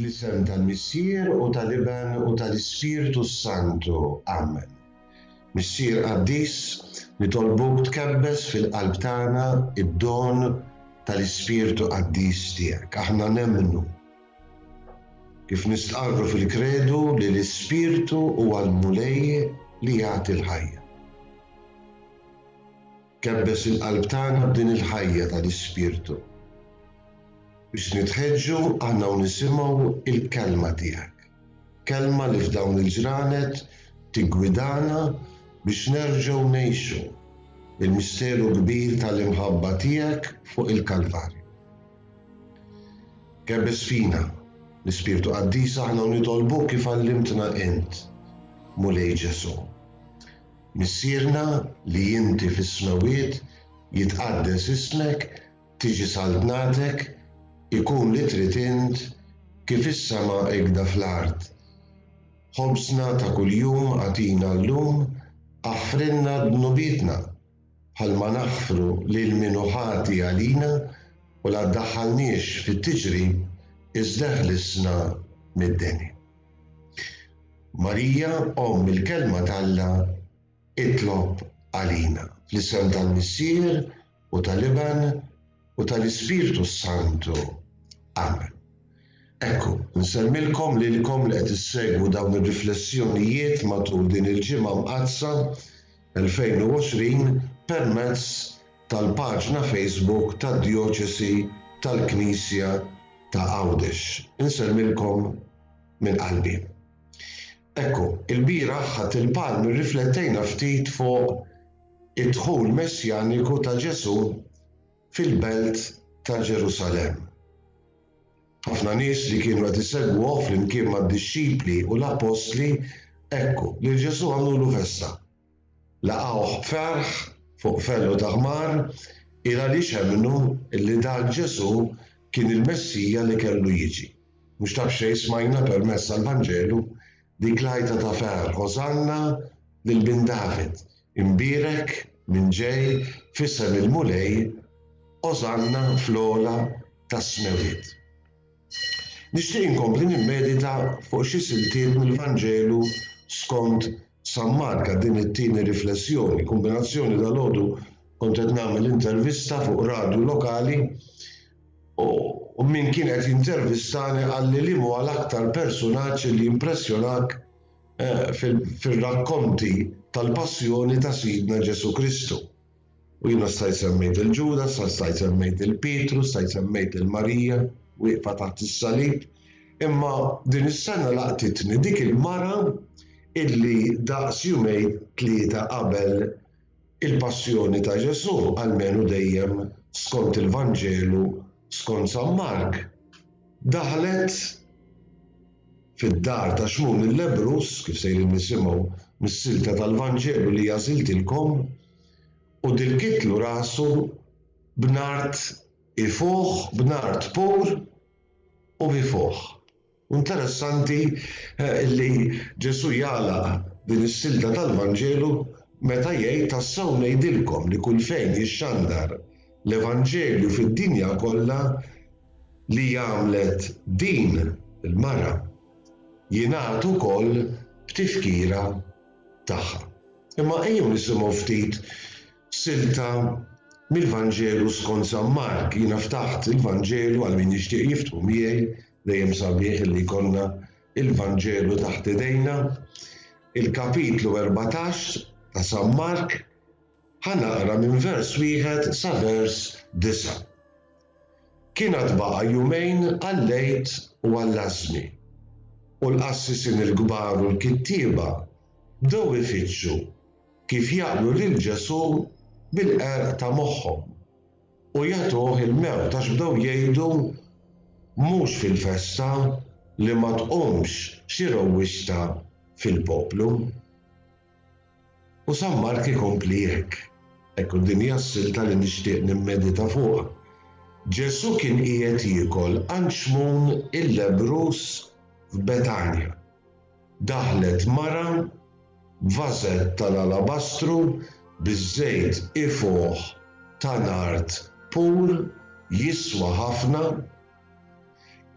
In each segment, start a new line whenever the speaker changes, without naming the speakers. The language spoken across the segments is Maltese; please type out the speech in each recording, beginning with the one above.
Fl-isem tal-Missier u tal-Iben u tal-Ispirtu s-Santu. Amen. Missier qaddis, nitolbuk tkebbes fil-qalb tagħna id-don tal-Ispirtu qaddis tiegħek. Aħna nemmnu Kif nistqarru fil-Kredu li l-Ispirtu huwa l-Mulej li jagħti l-ħajja. Kebbes il-qalb tagħna b'din il-ħajja tal-Ispirtu biex nitħeġġu aħna u nisimgħu l-Kelma tiegħek. Kelma li f'dawn il-ġranet tiggwidana biex nerġgħu ngħixu il-misteru kbir tal-imħabba tiegħek fuq il-Kalvarju. Ghebbes fina, l-Ispirtu Qaddis aħna u nitolbuk kif għallimtna int, Mulej Ġesù. Missierna li inti fis-smewwiet, jitqaddes ismek, tiġi saltnatek, ikun li trid int, kif is-sema hekda fl-art. Ħobżna ta' kuljum agħtina llum, aħfrilna dnubietna. bħalma naħfru lil min hu ħati għalina u la ddaħħalniex fit-tiġrib iżda ħlisna mid-deni. Marija, Omm il-Kelma t'Alla, itlob għalina. Fl-isem tal-Missier u tal-Iben, u tal-Ispirtu s-Santu. Amen. Ekku, nsemmilkom lilkom li qed issegwu dawn ir-riflessjonijiet matul din il-Ġimgħa Mqaddsa 2020 permezz tal-paġna Facebook tad-Djoċesi tal-Knisja ta' Għawdex. Insemmilkom minn qalbi. Ekku, ilbieraħ Ħadd il-Palm irriflettejna ftit fuq id-dħul messjaniku ta' Ġesù fil-belt ta' Ġerusalemm. Ħafna nies li kienu qed isegwuh flimkien mad-dixxipli u l-appostli, ekku, lil Ġesù għamlulu festa. Laqgħuh b'ferħ fuq fellu ta' ħmar il għaliex emmnu li dan Ġesù kien il-Messija li kellu jiġi. Mhux ta' b'xejn smajna permezz tal-Vanġelu dik l-għajta ta' ferħ, Osanna lil Bin David, imbierek min ġej f'isem il-Mulej, Osanna fl-ogħla tas-smewwiet. Nixtieq inkompli nimmedita fuq xi siltiet mill-Vanġelu skont San Mark għal din it-tieni riflessjoni, kombinazzjoni dal-għodu kont qed nagħmel intervista fuq radju lokali u min kien qed jintervistani qalli li huwa l-aktar personaġġ li jimpressjonak eh, fir-rakkonti tal-passjoni ta' Sidna Ġesù Kristu. U jiena stajt semmejt lil Ġuda, sa stajt semmejt lil Pietru, stajt semmejt lil Marija wieqfa taħt is-salib, imma din is-sena laqtitni dik il-mara illi daqs jumejn tlieta qabel il-Passjoni ta' Ġesù, almenu dejjem skont il-Vanġelu skont San Mark, daħlet fid-dar ta' Xmun il-lebbruż, kif sejrin nisimgħu mis-silta tal-Vanġelu li għażiltilkom, u dilkitlu rasu b'nard ifuħ, b'nard pur u b'ifuħ. U interessanti li Ġesù jagħlaq din is-silta tal-Vanġelu meta jgħid, Tassew ngħidilkom li kull fejn jixxandar l-Evanġelju fid-dinja kollha, li għamlet din il-mara, jingħad ukoll b'tifkira tagħha. Imma ejjew nisimgħu ftit silta mill-Vanġelu skont San Mark. Jiena ftaħt il-Vanġelu għal min jixtieq jiftħu miegħi, dejjem sabiħ li jkollna il-Vanġelu taħt idejna. Il-kapitlu 14 ta' San Mark Ħa naqra minn vers wieħed sa vers disa'. Kien għad baqa' jumejn għall-Għid u għall-Għażżmi, u l-qassisin il-kbar u l-kittieba bdew ifittxu kif jaqblu lil Ġesù bil-qerq ta' moħħhom u jagħtuh il-mewt għax bdew jgħidu, Mhux fil-festa li ma tqumx xi rewwixta fil-poplu. U San Mark ikompli hekk, Hekk u din hija s-silta li nixtieq nimmedita fuqha. Ġesù kien qiegħed jiekol għand Xmun il-lebbruż f'Betanja. Daħlet mara b'vażett tal-alabastru biż-żejt ifuħ ta' nard pur jiswa ħafna.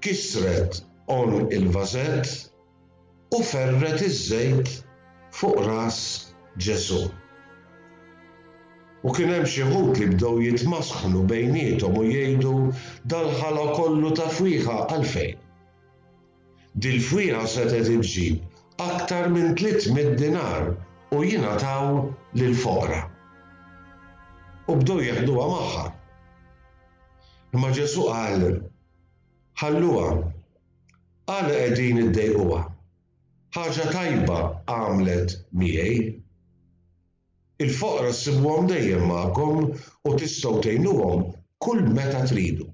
Kisret għonq il-vażett. u ferret iż-żejt fuq ras Ġesù. U kien hemm xi wħud li bdew jitmasknu bejniethom u jgħidu, Dal-ħala kollu ta' fwieħa għalfejn? Dil-fwieħa setgħet iġġib aktar minn tliet mitt dinar u jingħataw lill-foqra. U bdew jeħduha magħha. Imma Ġesù qal, Ħalluha, Għala qegħdin iddejquha? Ħaġa tajba għamlet miegħi. Il-foqra ssibuhom dejjem magħkom u tistgħu tgħinuhom kull meta tridu.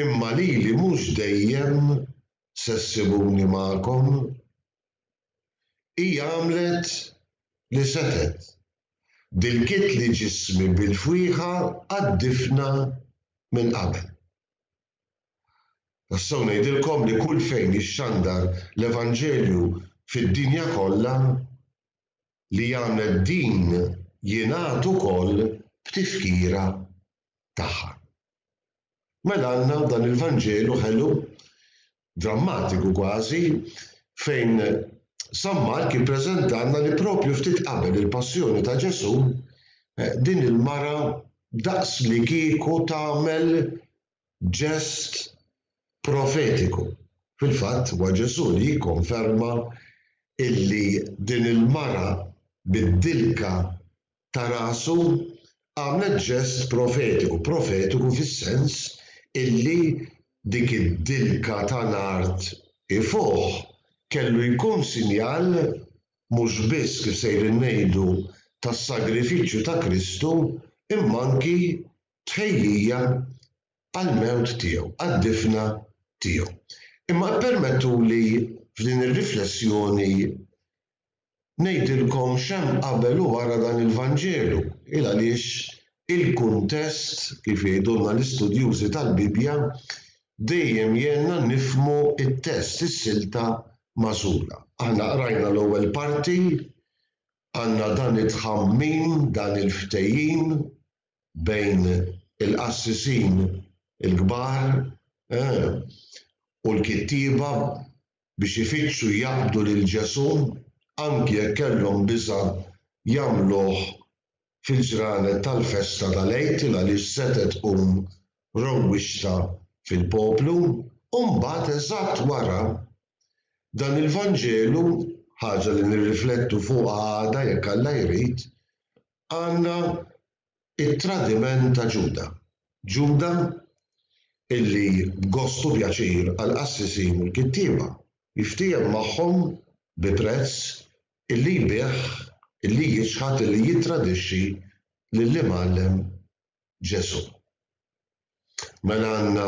Imma lili mhux dejjem se ssibuni magħkom. Hi għamlet li setgħet. Dilkitli ġismi bil-fwieħa għad-difna minn qabel. Tassew ngħidilkom li kull fejn jixxandar l-Evanġelju fid-dinja kollha, li jagħmel din jingħad ukoll b'tifkira tagħha. Mela għandna dan il-Vanġelu ħelu drammatiku kważi, fejn San Mark jippreżentalna li propju ftit qabel il-passjoni ta' Ġesù, din il-mara daqslikieku tagħmel ġest profetiku. Fil-fatt, huwa Ġesù li jikkonferma illi din il-mara biddilka ta' rasu għamlet ġest profetiku, profetiku fis-sens illi dik id-dilka ta' l-art 'i fuħ kellu jkun sinjal mhux biss kif sejrin ngħidu tas-sagrifiċċju ta' Kristu imma anki tħejjija għall-mewt tiegħu, għad-difna tiegħu. Imma ippermettuli f'din ir-riflessjoni Ngħidilkom x'hemm qabel u wara dan il-Vanġelu, il għaliex il-kuntest, kif jgħidulna l-istudjużi tal-Bibbja, dejjem jgħinna nifhmu t-test, is-silta magħżula. Aħna qrajna l-ewwel parti, għandna dan it-tħammim, dan il-ftehim bejn il-qassisin il-kbar u l-kittieba biex ifittxu jaqbdu lil Ġesù anki jekk kellhom biża' jagħmluh fil-ġranet tal-festa tal-Għid għaliex setgħet tqum rowwixta fil-poplu. U mbagħad eżatt wara, dan il-Vanġelu, ħaġa li nirriflettu fuqha għada jekk Alla jrid, għandna It-tradiment ta' Ġuda. Ġuda, illi b'gost u pjaċir għall-qassisin u l-kittieba, jiftiehem magħhom bi prezz, illi jbigħ, illi jiċħad, illi jittradixxi lill-Imgħallem Ġesù. Mela għandna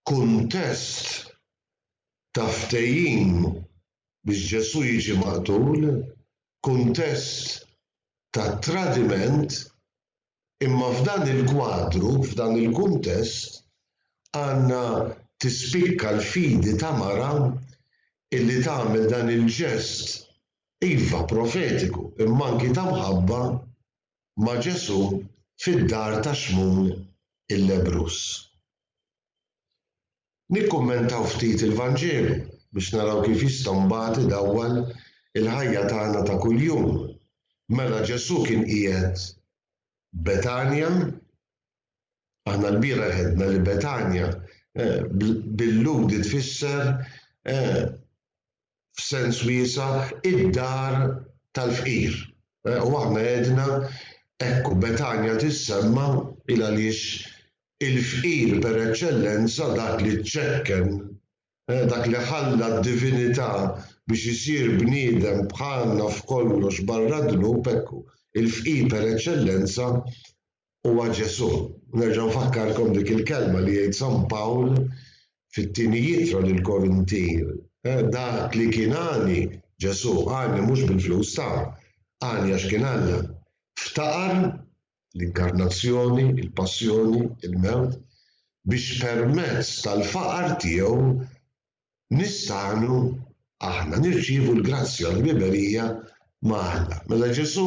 kuntest ta' ftehim biex Ġesù jiġi maqtul, kuntest ta' tradiment, imma f'dan il-kwadru, f'dan il-kuntest, għandna tispikka l-fidi ta' mara illi tagħmel dan il-ġest, iva, profetiku, imma anki ta' mħabba, ma' Ġesù fid-dar ta' Xmun il-lebbruż. Nikkummentaw ftit il-Vanġelu biex naraw kif jista' mbagħad idawwal il-ħajja tagħna ta' kuljum. Mela Ġesù kien qiegħed Betanja Aħna l-bieraħ għedna li Betanja eh, bil-Lhudi tfisser eh, f'sens wiesa id-dar tal-fqir. Eh, u aħna għedna ekku Betanja tissemma il għaliex il-fqir per eċċellenza dak li ċekken Eh, dak li ħalla d-divinità biex isir bniedem bħalna f'kollox barra dnub ekku il-fqir per eċċellenza Huwa Ġesù. Nerġa' nfakkarkom dik il-kelma li jgħid San Pawl fit-Tieni Ittra lill-Korintin, Dak li kien għani, Ġesù, għani mhux bil-flus ta', għani għax kien Alla, ftaqar, l-Inkarnazzjoni, il-Passjoni, il-Mewt, biex permezz tal-faqar tiegħu nistgħu aħna nirċievu l-grazzja u l-ħbiberija ma' Alla. Mela Ġesù,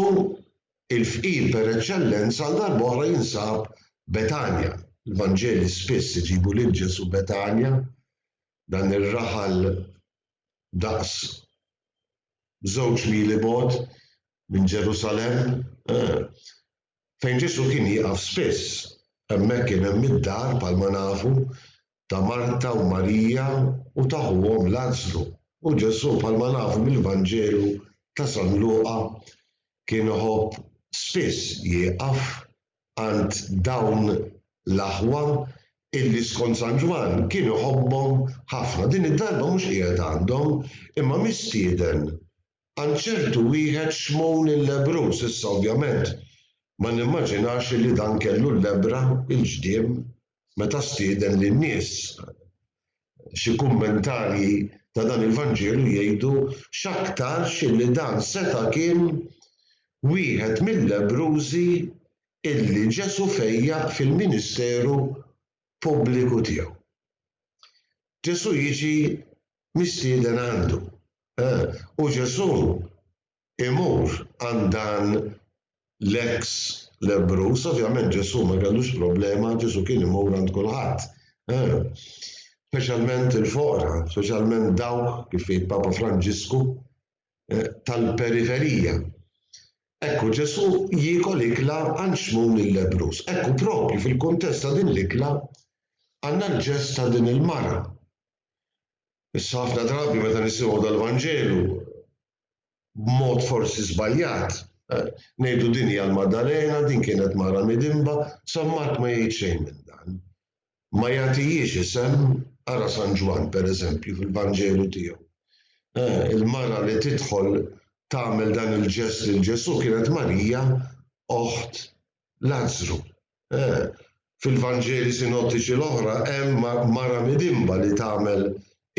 il-fqir per eċċellenza, għal darb'oħra jinsab Betanja. Il-Vanġeli spiss iġibu lil Ġesù Betanja, dan ir-raħal daqs żewġ mili bogħod minn Ġerusalemm, eh, fejn Ġesù kien jieqaf spiss. Hemmhekk kien hemm id-dar bħalma nafu ta' Marta u Marija u ta' ħuhom Lazzru. U Ġesù, bħalma nafu mill-Vanġelu ta' San Luqa, kien iħobb spiss jieqaf għand dawn l-aħwa illi skont San Ġwann kien iħobbhom ħafna. Din id-darba mhux qiegħed għandhom, imma mistieden għand ċertu wieħed Xmun il-Lebruż. Issa ovvjament ma nimmaġinax illi dan kellu l-lebbra, il-ġdiem, meta stieden lin-nies xi kummentarji ta' dan il-Vanġelu jgħidu x'aktarx illi dan seta' kien wieħed mil-lebbrużi illi Ġesù fejjaq fil-ministeru pubbliku tiegħu. Ġesù jiġi mistieden għandu, u Ġesù imur għand dan l-eks lebbruż, ovvjament Ġesù ma kellux problema, Ġesù kien imur għand kulħadd. Eh, speċjalment il-foqra, speċjalment dawk kif jgħid Papa Franġisku eh, tal-periferija. Ekku Ġesù jiekol ikla għand xmun il-lebrus. Ekku propju fil-kuntest ta' din l-ikla għandna l-ġest ta' din il-mara. Issa ħafna drabi meta nisimgħu dal-Vanġelu b'mod forsi żbaljat, ngħidu din hija l-Maddalena, din kienet mara midinba, San Mark ma jgħid xejn minn dan. Ma jagħtihiex isem, ara San Ġwann pereżempju fil-Vanġelu tiegħu. Il-mara li tidħol tagħmel dan il-ġest lil Ġesù kienet Marija, oħt Lazzru. Eh, fil-Vanġeli sinottiċi l-oħra hemm mara midinba li tagħmel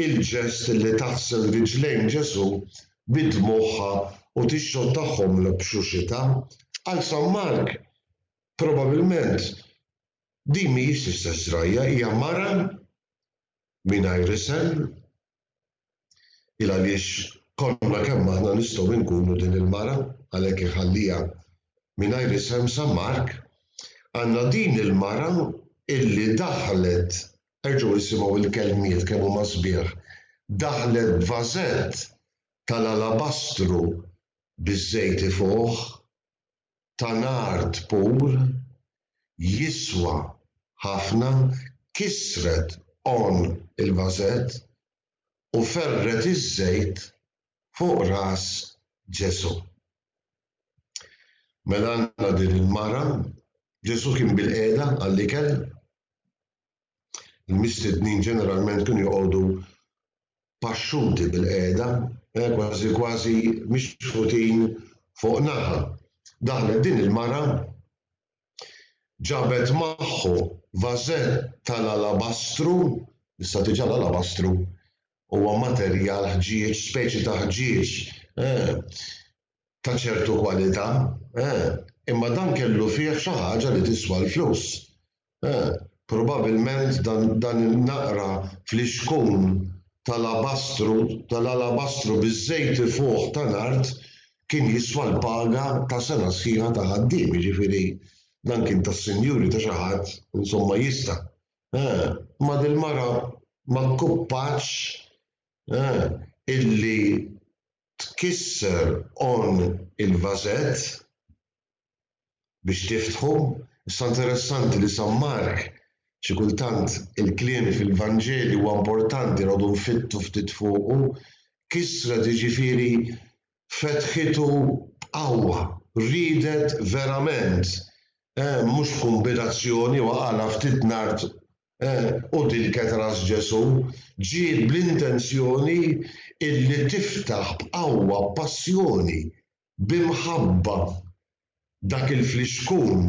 il-ġest li taħsel riġlejn Ġesù bi dmugħha u tixxottahom b'xuxitha. Għal San Mark, probabbilment din mhijiex l-istess żrajja, hija mara mingħajr isem, Il għaliex konna kemm aħna nistgħu inkunu din il-mara, għalhekk iħalliha mingħajr isem sa Mark, għandna din il-mara illi daħlet, erġgħu isimgħu l-kelmiet kemm huma sbieħ, daħlet b'vażett tal-alabastru biż-żejti fuqh, ta' l-art pur jiswa ħafna kisret għonq il-vażett u ferret iż-żejt fuq ras Ġesù. Mela għandna din il-mara, Ġesù kien bilqiegħda għall-ikel, Il-mistednin ġeneralment kienu joqogħdu paxxuti bil-qiegħda, eh, kważi kważi mixħutin fuq naħa. Daħlet din il-mara ġabet magħhu vażett tal-alabastru, issa diġà l-alabastru huwa materjal ħġieġ, speċi ta' ħġieġ, eh, ta' ċertu kwalità, eh, imma dan kellu fih xi ħaġa li tiswa l-flus, eh, probabilment dan, dan in-naqra flixkun tal-abastru, tal-alabastru biż-żejt ifuħ ta' nard kien jiswa l-paga ta' sena sħiħa ta' ħaddiem, jiġifieri dan kien tas-sinjuri ta' xi ħadd, insomma jista'. Eh, ma dil-mara ma kkuppaċ, eh, illi tkisser on il-vażett biex tiftħu. Issa interessanti li San Mark xi kultant il-kliem fil-Vanġelju huwa importanti noqogħdu nfittu ftit fuqu. Kissret jiġifieri fetħitu b'qawwa, riedet verament, eh, mhux kumbinazzjoni waqgħalha ftit nard U din kienet ras Ġesù. Ġiet bl-intenzjoni illi tiftaħ b'qawwa, b'passjoni, b'imħabba dak il-flixkun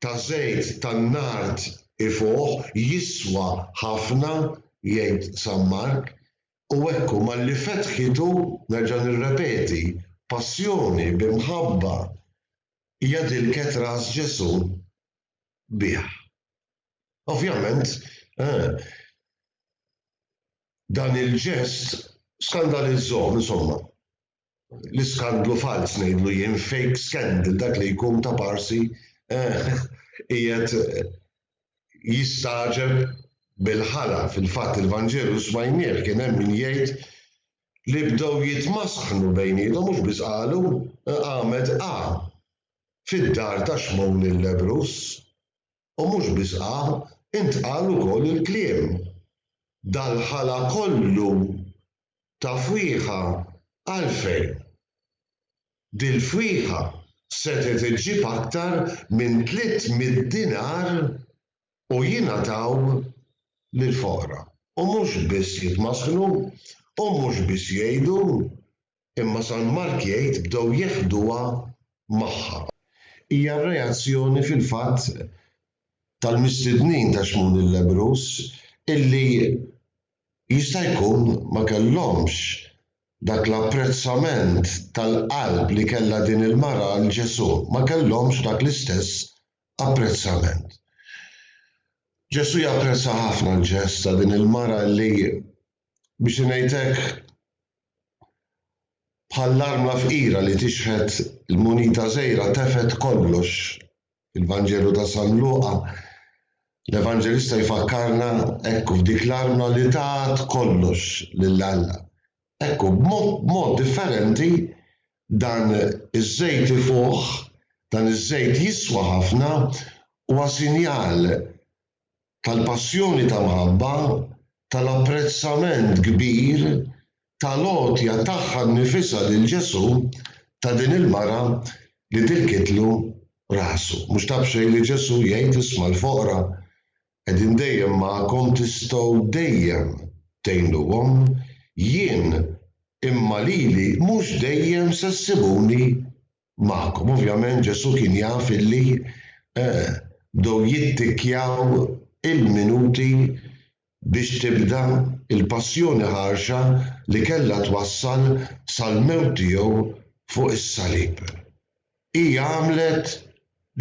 ta' żejt tan-nard ifuħ, jiswa ħafna, jgħid San Mark. U hekk hu, malli fetħitu, nerġa' nirrepeti, b'passjoni, b'imħabba, hija din kienet ras Ġesù. bih. Ovvjament, eh, dan il-ġest skandalizzom, insomma. L-iskandlu falz ngħidlu jien fake scandal dak li jkun ta' parsi eh, qiegħed eh, jistaġeb bil-ħala fil-fatt il-Vanġelu smajnieh kien hemm min jgħid li bdew jitmasħnu bejnietom mhux biss qalu eh, għamed A. fid-dar ta' Xmun il-lebbruż. U mhux biss qam, intqal ukoll il-kliem, Dal-ħala kollu ta' fwieħa għalfejn? Dil-fwieħa setgħet iġġib aktar minn tliet mitt dinar u jingħataw lill-foqra. U mhux biss jitmasknu, u mhux biss jgħidu, Imma San Mark jgħid bdew jeħduha magħha. Hija r-reazzjoni fil-fatt tal-mistednin ta' Xmun il-lebbruż illi jista' jkun ma kellhomx dak l-apprezzament tal-qalb li kellha din il-mara għal Ġesù, ma kellhomx dak l-istess apprezzament. Ġesù japprezza ħafna l-ġest ta' din il-mara illi, biex ngħid hekk, Bħall-arma fqira li tixħet l-munita żgħira tefgħet kollox. Fil-Vanġelu ta' San Luqa, l-Evanġelista jfakkarna hekk f'dik l-arma li tat kollox lil Alla. Ekku, b'mod differenti, dan iż-żejt ifuħ, dan iż-żejt jiswa ħafna, huwa sinjal tal-passjoni ta' mħabba, tal-apprezzament kbir, tal-għotja tagħha nnifisha lil Ġesù, ta' din il-mara li tilkitlu rasu. Mhux ta' b'xejn li Ġesù jgħid, Isma' l-foqra qegħdin dejjem magħkom tistgħu dejjem tgħinuhom, jien imma lili mhux dejjem se ssibuni magħkom. Ovvjament Ġesù kien jaf illi bdew jittikkjaw il-minuti biex tibda l-passjoni ħarxa li kellha twassal sal-mewt tiegħu fuq is-salib. Hi għamlet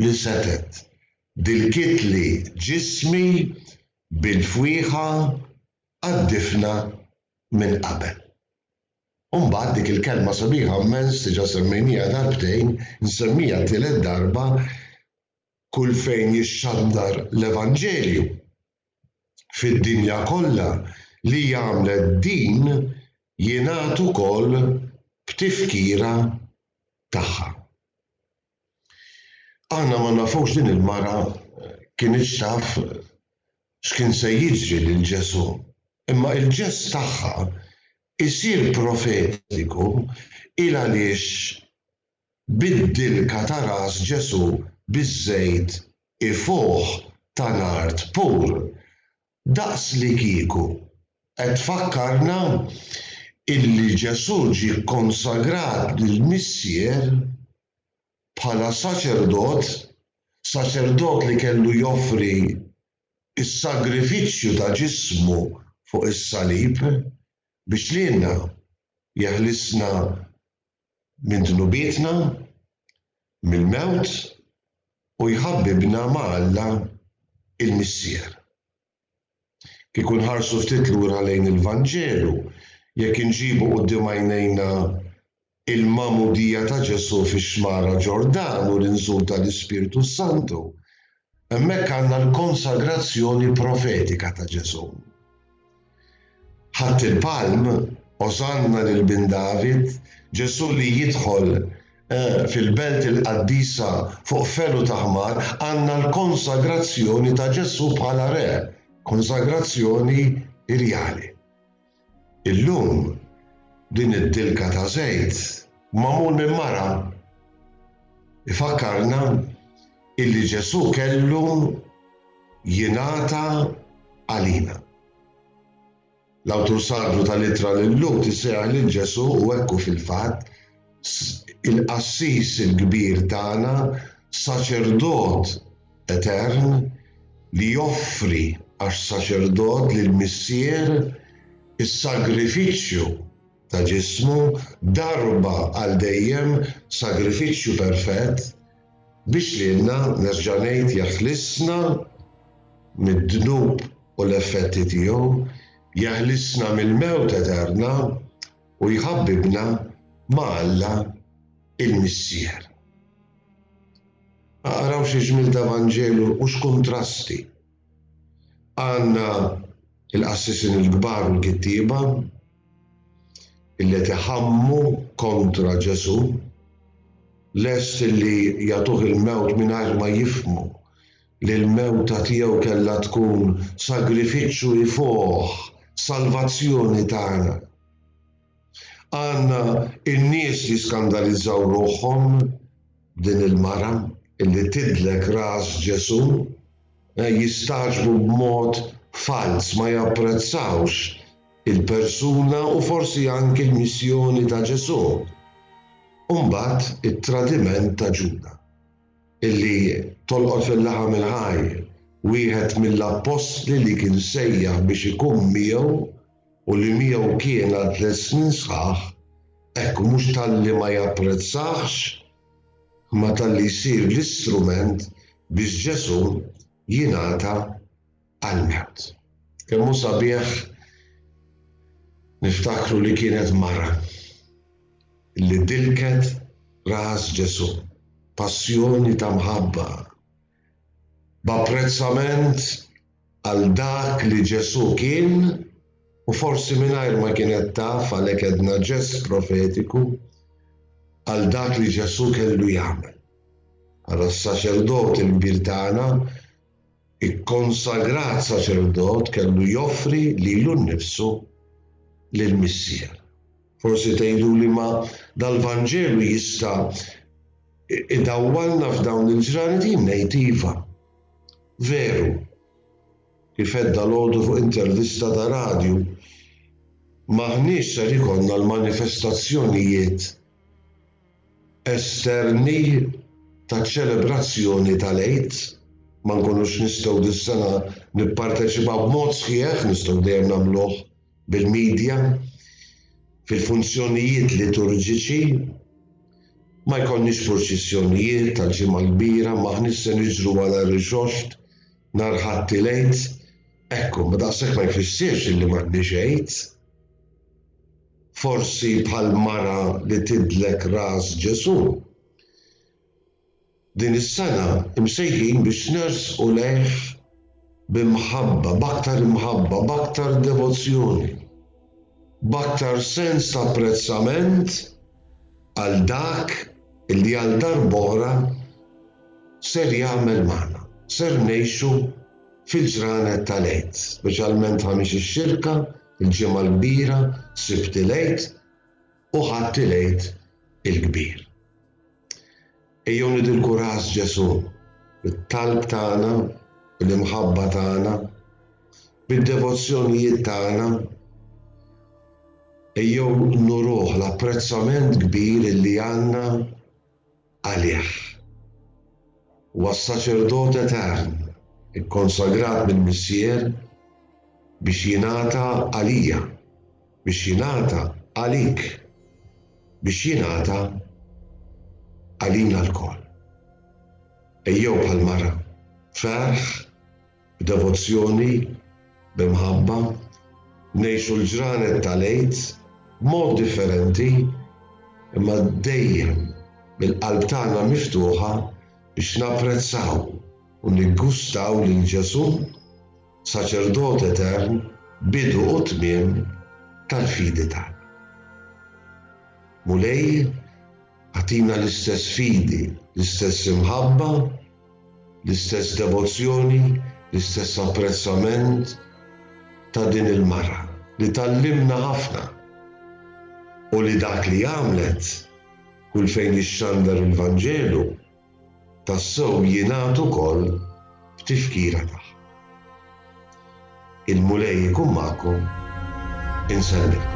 li setgħet, dilkitli ġismi bil-fwieħa għad-difna minn qabel. U mbagħad dik il-kelma sabiħa mmens diġà semmejnieha darbtejn, insemmija t-tielet darba, kull fejn jixxandar l-evanġelju fid-dinja kollha li għamlet din jingħad ukoll b'tifkira tagħha. Aħna ma nafux din il-mara kinitx taf x'kien se jiġri lil Ġesù, imma il-ġest tagħha jsir profetiku il għaliex bid-dilka ta' ras Ġesù biż-żejt ifuħ ta' nard pur Daqslikieku qed tfakkarna illi Ġesù ġie kkonsagrat lill-Missier bħala saċerdot, saċerdot li kellu joffri s-sagrifiċċju ta' ġismu fuq is-salib biex lilna jeħlisna minn dnubietna, mill-mewt u jħabbibna ma' Alla l-Missier. Kieku nħarsu ftit lura lejn il-Vanġelu, jekk inġibu quddiem għajnejna l-Magħmudija ta' Ġesù fix-Xmara Ġordan u l-inżul tal-Ispirtu s-Santu, Hemmhekk għandna l-konsagrazzjoni profetika ta' Ġesù. Ħadd il-palm, Osanna lil bin David, Ġesù li jidħol eh, fil-belt il-qaddisa fuq felu ta' ħmar, għandna l-konsagrazzjoni ta' Ġesù bħala re, konsagrazzjoni irjali. Illum, din id-dilka ta' żejt magħmul minn mara ifakkarna illi Ġesù kellu jingħata għalina. L-awtur sagru tal-Ittra lil Lut isejjaħ lil Ġesù u hekk hu fil-fatt il-Qassis il-Kbir tagħna saċerdot etern li joffri għax saċerdot lill-Missier is-sagrifiċċju ta' ġismu darba għal dejjem sagrifiċċju perfett biex lilna, nerġa' ngħid, jeħlisna mid-dnub u l-effetti tiegħu, jeħlisna mill-mewt eterna, u jħabbibna ma' Alla il-Missier. Araw xi ġmiel ta' Vanġelu u x'kuntrasti! Għandna l-qassisin il-kbar u l-kittieba illi qed iħammu kontra Ġesù, lest illi jagħtuh il-mewt mingħajr ma jifhmu li l-mewta tiegħu kellha tkun sagrifiċċju ifoħ salvazzjoni tagħna. Għandna n-nies li skandalizzaw ruħhom b'din il-mara illi tidlek ras Ġesù, eh, jistagħġbu b'mod falz ma japprezzawx il-persuna u forsi anki l-missjoni ta' Ġesù. U mbagħad it-tradiment ta' Ġuda. illi tolqot fil-laħam il-ħaj, wieħed mill-appostli li kien sejjaħ biex ikun miegħu u li miegħu kien għal tliet snin sħaħ, hekk mhux talli ma japprezzahx, imma talli jsir l-istrument biex Ġesù jingħata għall-mewt. Kemm hu sabiħ niftakru li kienet mara li dilket ras Ġesù b'passjoni ta' mħabba, b'apprezzament għal dak li Ġesù kien u forsi mingħajr ma kienet taf għalhekk għedna ġest profetiku għal dak li Ġesù kellu jagħmel. Bħala s-saċerdot il-kbir tagħna Ikkonsagrat saċerdot kellu joffri lilu nnifsu lill-Missier. Forsi tgħiduli ma dal-Vanġelu jista' idawwalna f'dawn il-ġranet jien ngħid iva. Veru, kif għedt dalgħodu fuq intervista ta' radju, m'aħniex ser ikollna l-manifestazzjonijiet esterni taċ-ċelebrazzjoni tal-Għid, ma nkunux nistgħu dis-sena nipparteċipaw b'mod sħiħ, nistgħu dejjem nagħmluh bil-midja, fil-funzjonijiet liturġiċi, ma jkollniex purċissjonijiet tal-Ġimgħa l-Kbira, m'aħniex se niġru wara rixoxt nhar Ħadd il-Għid, ekku, ma daqshekk ma jfissirx illi m'għandniex Għid. Forsi bħall-mara li tidlek ras Ġesù, din is-sena msejħin biex nersqu lejh b'imħabba, b'aktar imħabba, b'aktar devozzjoni, b'aktar sens ta' apprezzament għal dak li għal darb'oħra ser jagħmel magħna, ser ngħixu fil-ġranet tal-Għid, speċjalment Ħamis ix-Xirka, Il-Ġimgħa l-Kbira, Sibt il-Għid u Ħadd il-Għid il-Kbir. Ejjew nidilku ras Ġesù bit-talb tagħna, bil-imħabba tagħna, bid-devozzjonijiet tagħna. Ejjew nuruh l-apprezzament kbir li għandna għalih. Huwa s-saċerdot etern ikkonsagrat mill-Missier biex jingħata għalija, biex jingħata għalik, biex jingħata għalina lkoll. Ejjew bħall-mara, ferħ, b'devozzjoni, b'imħabba, ngħixu l-ġranet tal-Għid b'mod differenti imma dejjem bil-qalb tagħna miftuħa biex napprezzaw u niggustaw lil Ġesù, Saċerdot Etern, Bidu u Tmiem tal-fidi tagħna. Mulej, agħtina l-istess fidi, l-istess imħabba, L-istess devozzjoni, l-istess apprezzament ta' din il-mara li tgħallimna ħafna u li dak li għamlet kull fejn jixxandar il-Vanġelu tassew jingħad ukoll b'tifkira tagħha. Il-Mulej ikun magħkom, insellmilkom.